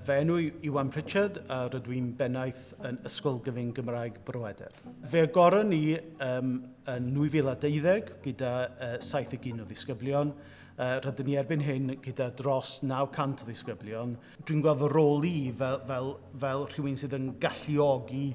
Fy enw i Iwan Pritchard a rydw i'n bennaeth yn Ysgol Gyfun Gymraeg Broeder. Fe agoron ni um, yn 2012 gyda uh, 71 o ddisgyblion. Uh, rydyn ni erbyn hyn gyda dros 900 o ddisgyblion. Dwi'n gweld fy rôl i fel, fel, fel rhywun sydd yn galluogi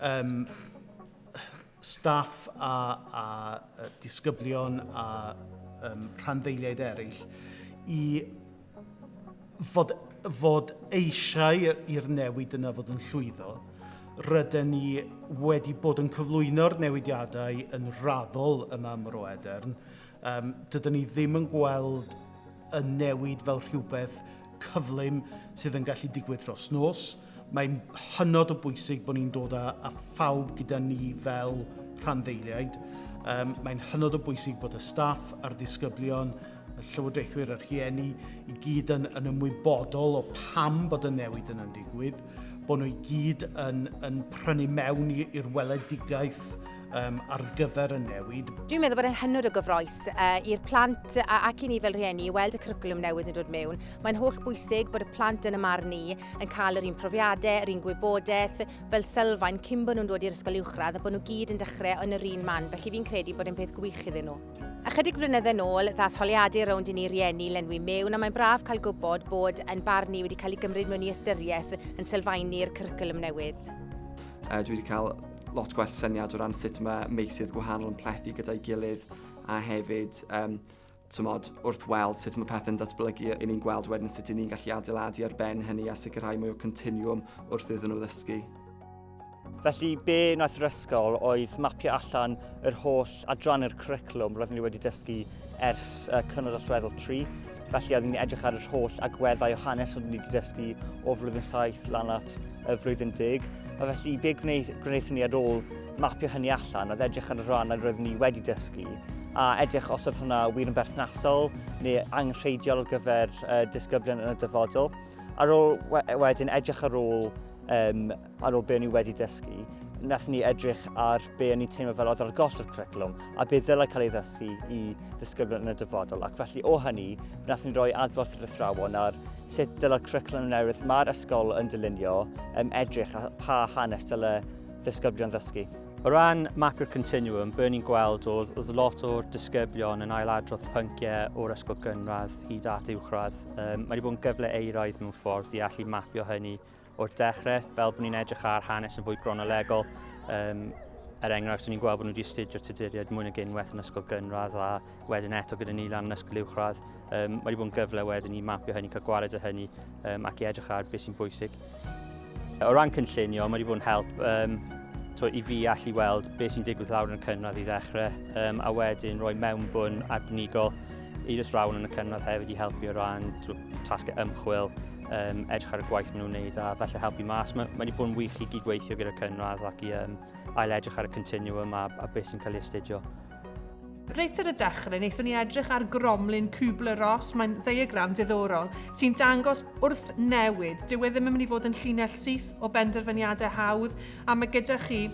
um, staff a, a disgyblion a um, rhanddeiliaid eraill i fod, fod eisiau i'r newid yna fod yn llwyddo. Rydyn ni wedi bod yn cyflwyno'r newidiadau yn raddol yma ym Mro Edern. Um, dydyn ni ddim yn gweld y newid fel rhywbeth cyflym sydd yn gallu digwydd dros nos. Mae'n hynod o bwysig bod ni'n dod â, â phawb gyda ni fel rhanddeiliaid. Um, mae'n hynod o bwysig bod y staff a'r disgyblion, y llywodraethwyr a'r rhieni i gyd yn, yn ymwybodol o pam bod y newid yna'n digwydd, bod nhw i gyd yn, yn prynu mewn i'r weledigaeth um, ar gyfer y newid. Dwi'n meddwl bod e'n hynod o gyfroes uh, i'r plant ac i ni fel rhieni i weld y cwricwlwm newydd yn dod mewn. Mae'n holl bwysig bod y plant yn y marn ni yn cael yr un profiadau, yr un gwybodaeth, fel sylfaen cyn bod nhw'n dod i'r ysgol uwchradd a bod nhw gyd yn dechrau yn yr un man, felly fi'n credu bod e'n peth gwych iddyn nhw. Ychydig flynyddau nôl, ddath holiadur rownd i ni rieni lenwi mewn a mae'n braf cael gwybod bod yn barn ni wedi cael ei gymryd mewn i ystyriaeth yn sylfaenu'r cwricwlwm newydd. Dwi wedi cael lot gwell syniad o ran sut mae meysydd gwahanol yn plethu gyda'i gilydd a hefyd um, tymod, wrth weld sut mae pethau'n datblygu, i ni'n gweld wedyn sut i ni'n gallu adeiladu ar ben hynny a sicrhau mwy o continuum wrth iddyn nhw ddysgu. Felly be wnaeth yr ysgol oedd mapio allan yr holl Adrannu'r cwricwlwm roeddwn ni wedi dysgu ers cyfnod allweddol tri, felly oeddwn ni'n edrych ar yr holl agweddau o hanes roeddwn ni wedi dysgu o flwyddyn 7 lan at y flwyddyn 10, a felly be gwnaethon ni ar ôl mapio hynny allan oedd edrych ar y rhannau roeddwn ni wedi dysgu a edrych os oedd hwnna wir yn berthnasol neu angenrheidiol ar gyfer disgyblion yn y dyfodol. Ar ôl wedyn edrych ar ôl um, Ar ôl be o'n i wedi dysgu, nath ni edrych ar be o'n i'n teimlo fel oedd ar goll o'r cwricwlwm a be ddylai cael ei ddysgu i ddisgyblion yn y dyfodol ac felly o hynny nath ni roi adborth i'r athrawon ar sut dylai'r cwricwlwm newydd mae'r ysgol yn dylunio um, edrych a pa hanes dylai ddisgyblion ddysgu. O ran mapio'r continuum, be ni'n gweld oedd, oedd lot o'r disgyblion yn ailadrodd pynciau o'r ysgol gynradd hyd at uwchradd. Um, mae wedi bod yn gyfle eiraidd mewn ffordd i allu mapio hynny O'r dechrau, fel bod ni'n edrych ar hanes yn fwy gronolegol, um, er enghraifft, ni'n gweld bod nhw wedi astudio tuduriaid mwy nag unwaith yn ysgol gynradd a wedyn eto gyda ni lan yn ysgol uwchradd. Um, mae wedi bod yn gyfle wedyn i mapio hynny, cael gwared o hynny um, ac i edrych ar beth sy'n bwysig. O ran cynllunio, mae wedi bod yn help um, to, i fi allu weld beth sy'n digwydd lawr yn y cynradd i ddechrau um, a wedyn rhoi mewnbwn arbenigol i'r athrawon yn y cynradd hefyd i helpu o ran tasgau ymchwil um, edrych ar y gwaith maen nhw'n wneud a felly helpu mas. Mae, mae wedi bod yn wych i gydweithio gyda'r cynradd ac i um, ail edrych ar y continuum a, a beth sy'n cael ei astudio. Reit ar y dechrau, wnaethon ni edrych ar gromlin Kübler-Ross, mae'n ddeagram diddorol, sy'n dangos wrth newid. Dyw e ddim yn mynd i fod yn llinell syth o benderfyniadau hawdd, a mae gyda chi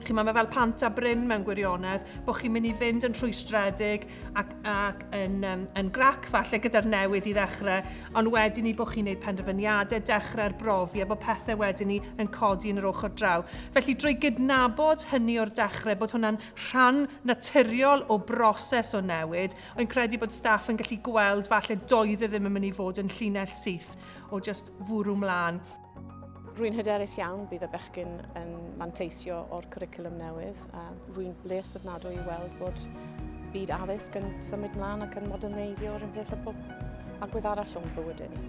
Chi mae fel pant a bryn mewn gwirionedd, bod chi'n mynd i fynd yn rhwystredig, ac, ac yn, um, yn grac falle gyda'r newid i ddechrau, ond wedyn ni bod chi'n gwneud penderfyniadau, dechrau'r brofi a bod pethau wedyn ni yn codi yn yr ochr draw. Felly drwy gydnabod hynny o'r dechrau, bod hwnna'n rhan naturiol o broses o newid, o'n credu bod staff yn gallu gweld falle doedd e ddim yn mynd i fod yn llinell syth o just fwrw mlaen. Rwy'n hyderus iawn bydd y bechgyn yn manteisio o'r cwricwlwm newydd a rwy'n bles ofnadwy i weld bod byd addysg yn symud mlaen ac yn moderneiddio o'r un peth a pob agwedd arall o'n bywydau ni.